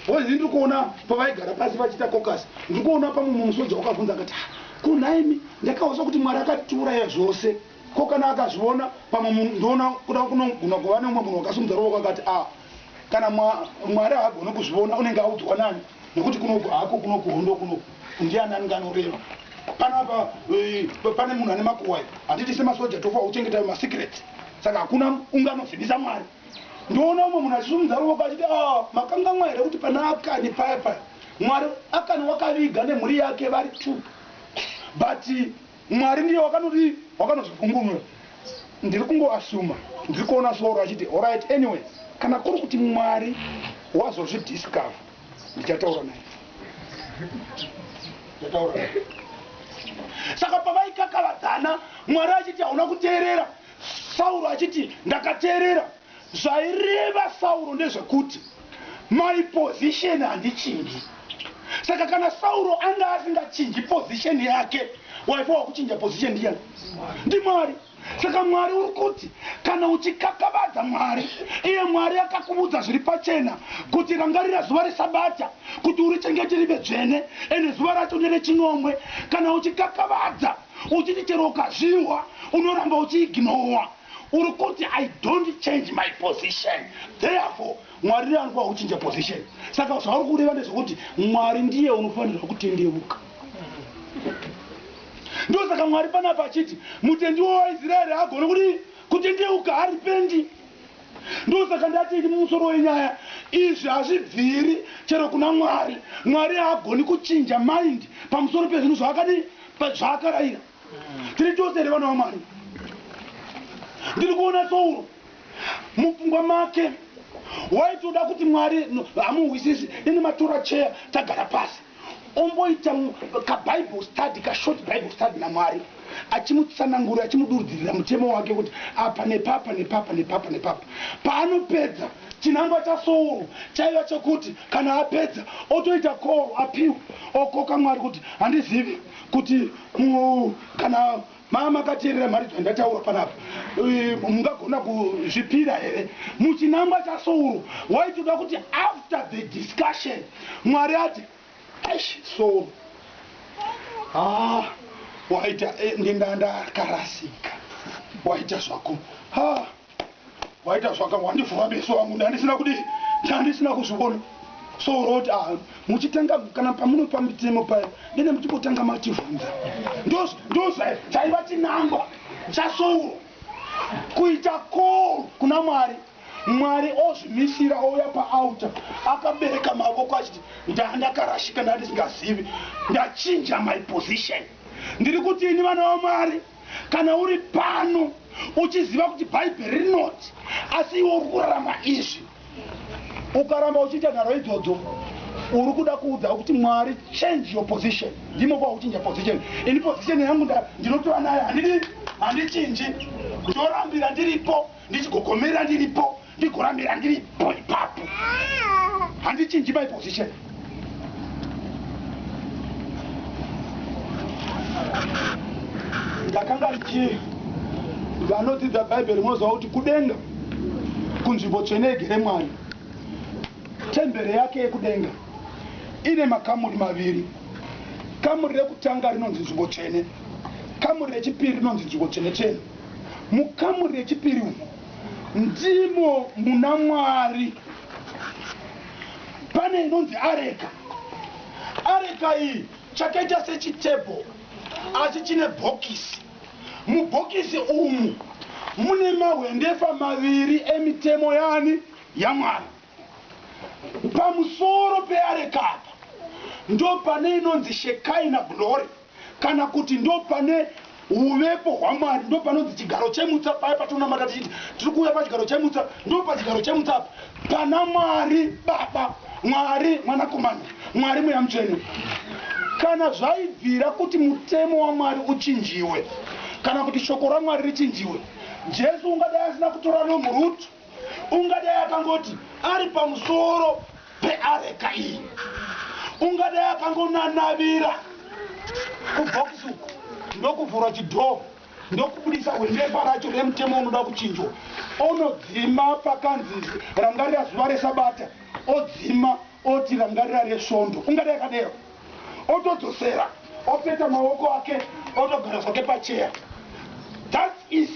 Boys ndiri kuona pavaigara pasi vachiita caucus ndiri kuona pamwe mumwe soja wakavhunza akati ha ko nhaimi ndakahwisa kuti mwari akatiuraya zvose ko kana akazviona pamwe munhu ndoona kuda kunogona kuva neumwe munhu wakasimudza ruvoko akati a kana mwari haagone kuzviona unenge audzwa nani nekuti kunoku hako kunoku hondo kunoku ndiani anenge anoreva panapa eh, pane munhu ane makuwai hatiti semasoja tofa uchengetayo masecrets saka hakuna unganozivisa mwari Ndoona umwe munhu achisimudza ruoko achiti aah makangamwa here kuti pana Akani paya paya Mwari Akani wakaviga nemhuri yake vari two but Mwari ndiye wakanoti wakanozvipumburura ndiri kungo assuma ndiri kuona Solo achiti horait anyway kana kuri kuti Mwari wazozvi discover ndichataura naye ndichataura naye saka pavaikakavadzana Mwari achiti hauna kuteerera Sauro achiti, Ndakateerera. Zvaireva Sauro ndezvekuti, My position handichinji. Saka kana Sauro anga asingachinji position yake, waifa wakuchinja position ndiyani? NdiMwari. Saka Mwari uri kuti kana uchikakavadza Mwari, iye Mwari akakuvudza zviri pachena kuti rangarira zuva reSabata kuti urichengete rive dzvene, ende zuva racho nderechinomwe. Kana uchikakavadza. uchiti chero ukazvihwa unoramba uchiignowa uri kuti i don't change my position therefore mwari ndiye anokuva kuchinja position saka zvauri kureva ndezvekuti mwari ndiye unofanirwa kutendeuka ndosaka mwari panapa achiti mutendiwo waisraeri agone kuti kutendeuka haripendi ndosaka ndati ini mumusoro wenyaya izvi hazvibviri chero kuna mwari mwari haagoni kuchinja mind pamusoro pezvinhu zvaakadii but zvaakarayira tiri tose here vana vamwari ndiri kuona souro mupfungwa make waitoda kuti mwari hamuhwisisi ini matora cheya tagara pasi omboita kabible study kashort bible study namwari achimutsanangura achimudurudzirira mutemo wake kuti apa nepapa nepapa nepapa nepapa paanopedza Chinangwa chaSouro chaiva chekuti kana apedza otoita call apiwe okoka Mwari kuti handizivi kuti kana maa makateerera mharidzo yandataura panapa mungagona kuzvipira here. Muchinangwa chaSouro waitoda kuti after the discussion Mwari ati aish Souro haa waita eh, ndendandakarasika waita zvako haa waita zvaka wandivhura meso angu ndandisina kudi ndandisina kuzvivona so roti ah, muchitanga kana pamunopa mitemo paya dene muchingotanga mativhunza ndozaiva chinangwa chasouro kuita call kuna mwari mwari ozvimisira ouya paalta akabereka mavoko achiti ndandakarashika ndandisingazivi ndachinja my position ndiri kuti ini vana vamwari kana uri pano uchiziva kuti bhaibheri rinoti asi iwe uri kurarama izvi ukaramba uchiita nharo idzodzo uri kuda kuudza kuti mwari change your position ndimo kwauchinja position ini position yangu ndinotora nayo handidi handichinji ndorambira ndiripo ndichigogomerera ndiripo ndigoramira ndiri po ipapo handichinji my position ndakanga ndichi vanodzidza bhaibheri munoziva kuti kudenga kunzvimbo tsvene yegere mwari tembere yake yekudenga ine makamuri maviri kamuri rekutanga rinonzi nzvimbo tsvene kamuri rechipiri rinonzi nzvimbo tsvene tsvene mukamuri rechipiri umu Ndimo muna Mwari. Pane inonzi areka. Areka iyi chakaita sechitebho asi chine bhokisi. Mubhokisi umu mune mahwendefa maviri emitemo yani yaMwari. Pamusoro peareka apa ndopane inonzi shekaina glory. kana kuti ndopane uvepo hwamwari ndopanonzi chigaro chemutsa paya patonamata tichiti tiri kuuya pachigaro chemutsa ndopachigaro chemutsa apa pana mwari baba mwari mwanakomana mwari mweya mutsvene kana zvaibvira kuti mutemo wamwari uchinjiwe kana kuti shoko ramwari richinjiwe jesu ungadai asina kutora rombo rutu ungadai akangoti ari pamusoro peareka iyi ungadai akangonanavira kubhokisi uku ndokuvhura chidhoo ndokubudisa hwendefa racho remutemo unoda kuchinjwa onodzima pakanzi rangarira zuva resabata odzima Oti rangarira resvondo ungade yakadero otodzosera opeta maoko ake otogara zvake pacheya thats is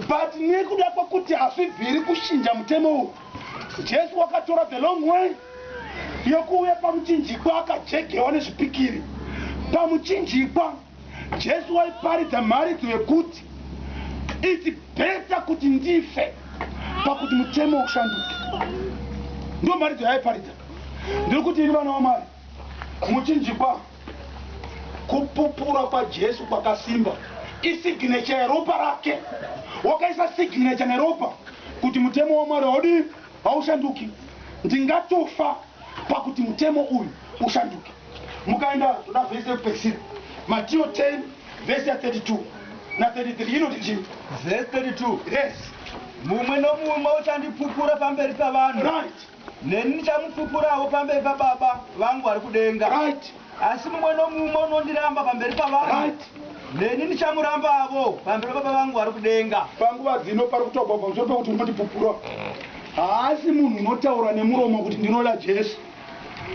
but nekuda kwekuti hazvibviri kushinja mutemo uyu jesu wakatora the long way yokuuya pamuchinjikwa akajegewa nezvipikiri pamuchinjikwa Jesu waiparidza mharidzo yekuti iti bhesa kuti ndife pakuti mutemo ushanduke. Ndiyo mharidzo yaaiparidza. Ndiri kuti ini vana waMwari muchinjikwa kupupura kwaJesu kwakasimba isignature yeropa rake. Wakaisa signature neropa kuti mutemo waMwari haudi haushanduki. Ndingatofa pakuti mutemo uyu ushanduke. Mukaenda zvoda vhesi yekupedzisira, Matio 10 vhesi ya 32 na 33 inoti chii? Vhesi 32. Yes. Mumwe nomumwe uchandipupura pamberi pavanhu. Right. Neni ndichamupupurawo pamberi paBaba vangu vari kudenga. Right. Asi mumwe nomumwe unondiramba pamberi pavanhu. Right. Neni ndichamurambavo pamberi paBaba vangu vari kudenga. Panguva dzino pari kutaurwa pamusoro pekuti unondipupura. Haasi munhu unotaura nemuromo kuti ndinoda Jesu.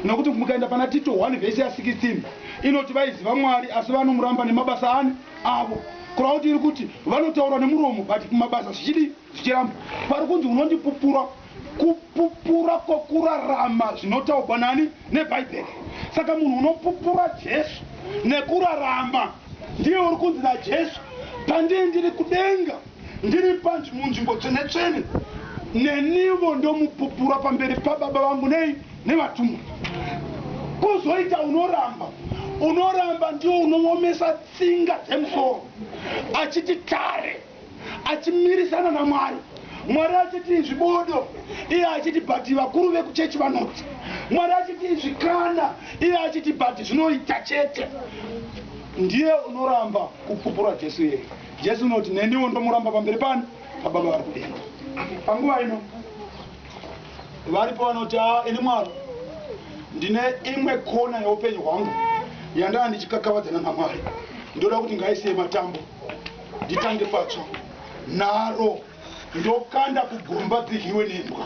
Nokuti mukaenda pana Tito 1 vhesi ya 16 inoti vaiziva Mwari asi vanomuramba nemabasa ani? Avo. Kureva kuti iri kuti vanotaura nemuromo but mumabasa zvichidii? Zvichiramba. Pari kunzi unondipupura kupupura kwokurarama zvinotaugwa nani? NeBhaibheri. Saka munhu unopupura Jesu nekurarama ndiye uri kunzi naJesu, Pandiri ndiri kudenga. Ndiri panj munzvimbo tsvene-tsvene, nenivo ndomupupura pamberi paBaba vangu nei nevatumwa. Kuzoita unoramba, unoramba ndiwo unoomesa tsinga dzemusoro, achiti tare, achimirisana naMwari. Mwari achiti izvi bodo, iye achiti but vakuru vekuchechi vanoti. Mwari achiti izvi kana, iye achiti but zvinoita chete. Ndiye unoramba kupupura Jesu iyeye. Jesu unoti neniwo ndomuramba pamberi pani pababa vari kudenga. Panguva ino varipo vanoti haa ini Mwari ndine imwe kona yeupenyu hwangu yandava ndichikakavadzana naMwari ndoda kuti ngaisiye matambo nditange patsva naro ndokanda kugomba dziryiwe nembwa.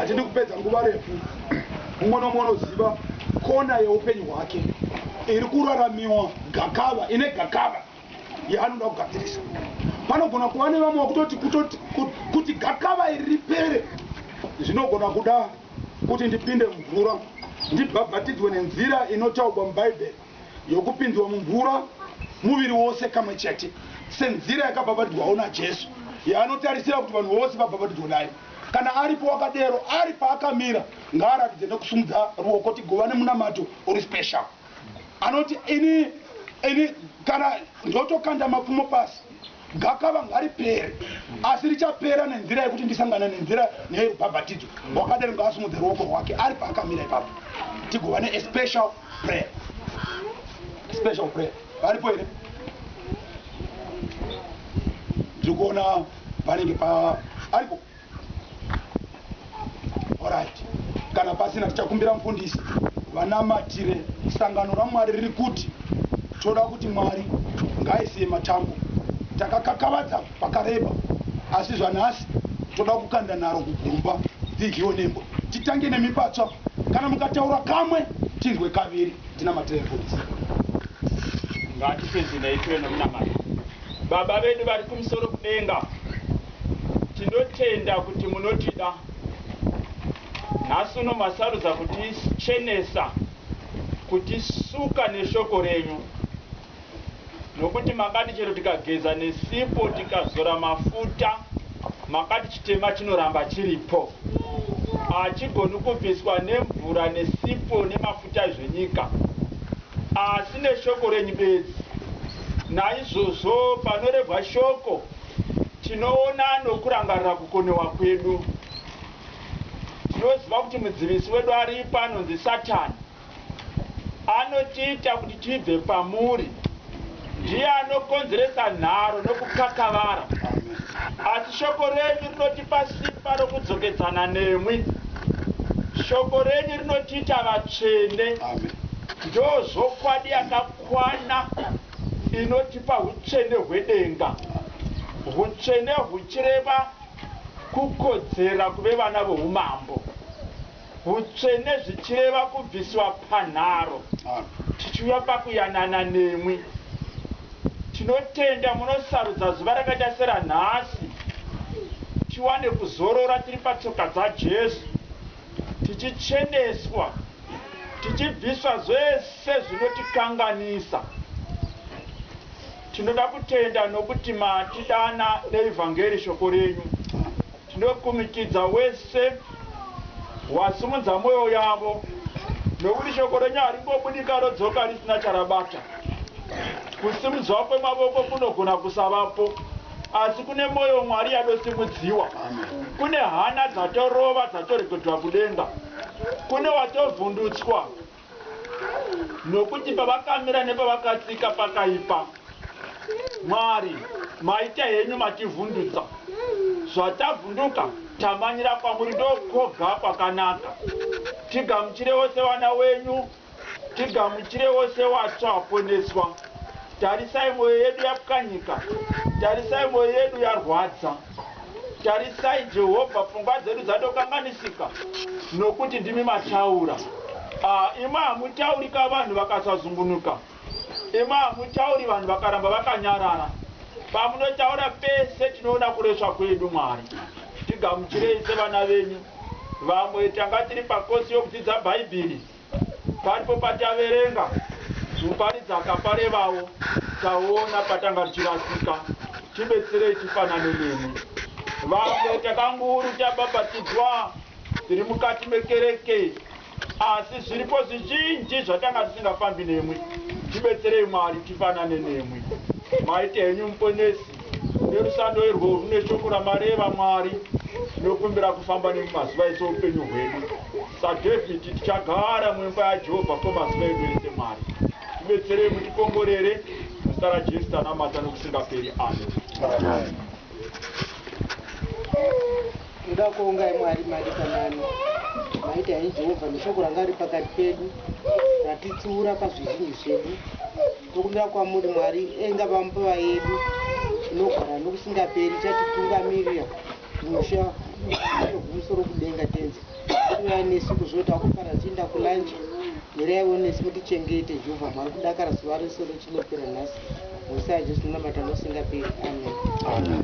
Hatidi kupedza nguva refu, mumwe nomumwe unoziva kona yeupenyu hwake iri kuraramiwa gakava, ine gakava yaanoda kugadzirisa. Panogona kuva nevamwe vakutoti kutoti kuti gakava iri ripere zvinogona kuda kuti ndipinde mvura ndibhabhatidzwe nenzira inotaurwa muBhaibheri. yokupinzwa mumvura muviri wose kamwe chete senzira yakabhabhatidzwawo naJesu yaanotarisira kuti vanhu vose vabhabhatidzwe nayo. Kana aripo wakadero, ari paakamira, ngaaratidze nokusumudza ruoko tigovane munamato uri special. Anoti, Ini, ini, kana ndotokanda mapfumo pasi. Gakava ngaripere, asi richapera nenzira yekuti ndisangane nenzira nerubhabhatidzo rwakadero. Ngaasumudze ruoko rwake ari paakamira ipapo tigova ne a special prayer. Special prayer. Varipo here? Ndiri kuona panenge pa aripo. Alright. Kana pasina tichakumbira mfundisi vanamatire sangano raMwari riri kuti toda kuti Mwari ngaisiye matambo. Takakakavadza pakareba asi zvanhasi toda kukanda nharo kugomba dzidyiwe nembwa. Titange nemi patsva. Kana mukataura kamwe tinzwe kaviri tinamatirei mfundisi. Ngatipedzei tive nomunamato. Baba vedu vari kumusoro kudenga. Tinotenda kuti munotida. Nhasi uno masarudza kutichenesa, kutisuka neshoko renyu, nokuti makati chero tikageza nesipo, tikazora mafuta, makati chitema chinoramba chiripo. Hachigoni kubviswa nemvura, nesipo, nemafuta zvenyika, asi neshoko renyu bedzi. Naizvozvo panorevwa shoko, Tinoona nokurangarira kukonewa kwedu. Tinoziva kuti mudzivisi wedu aripo anonzi Satani. Anotiita kuti tibve pamuri. Ndiye anokonzeresa nharo nokukakavara. Asi shoko renyu rinotipa simba rokudzokedzana nemwi. Shoko renyu rinotiita vatsvene. Ndozvokwadi yakakwana. Inotipa hutsvene hwedenga. Hutsvene huchireva kukodzera kuve vana voUmambo. Hutsvene zvichireva kubviswa panharo tichiuya pakuyanana nemwi. Tinotenda munosarudza zuva rakaita seranhasi tiwane kuzorora tiri patsoka dzaJesu. tichicheneswa, tichibviswa zvese zvinotikanganisa. Tinoda kutenda nokuti matidana neEvhangeri, shoko renyu. Tinokumikidza wese wasimudza mwoyo yavo nokuti shoko renyu haringobudi karodzoka risina charabata. Kusimudzwa kwemavoko kunogona kusavapo Asi kune moyo Mwari yadosimudziwa. Kune hana dzatorova dzatoregedzwa kudenga. Kune watovhundutswa nokuti pavakamira nepavakatsika pakaipa. Mwari, maita henyu mativhundutsa. Zvatavhunduka tamanyira kwamuri ndokwoga kwakanaka. Tigamuchirewo sevana wenyu. Tigamuchire wose watsva aponeswa Tarisai moyo yedu yapwanyika Tarisai moyo yedu yarwadza Tarisai Jehovha pfungwa dzedu dzatokanganisika Nokuti ndimi mataura Ah imwi hamutaurika vanhu vakasazungunuka Imwi hamutauri vanhu vakaramba vakanyarara Pamunotaura pese tinoona kuresva kwedu Mwari tigamuchirei sevana venyu Vamwe tanga tiri pakosi yokudzidza Bhaibhiri Paripo pataverenga muparidzi akaparevawo taona patanga tichirasika tibetserei tifanane nemi vamwe takanguru tabhabhatidzwa tiri mukati mekereke asi zviripo zvizhinji zvatanga tisingafambi nemwi tibetserei Mwari tifanane nemwi maita henyu muponesi Nerusando irwo rune shoko ramareva Mwari, tinokumbira kufamba nemi mazuva ese oupenyu hwedu. SaDavid, tichagara muimba yaJehovha kwemazuva edu ese. Mwari, tibetserei, mutikomborere. Muzita raJesu tanamata nokusingaperi. Amen. Ndoda kuongai Mwari madikanani maita henyu Jehovha neshoko ranga riri pakati pedu ratitsiura pazvizhinji zvedu. Tokumbira kwamuri Mwari enga pamupava yedu inogara nokusingaperi chatitungamirira kumusha kumusoro kudenga tenzi kuuya nesu kuzoti akufara tichienda kulanji miraiwo nesu mutichengete Jehovah Mwari kudakara zuva rese richinopera nhasi muzita raJesu tinonamata nokusingaperi amen. Amen.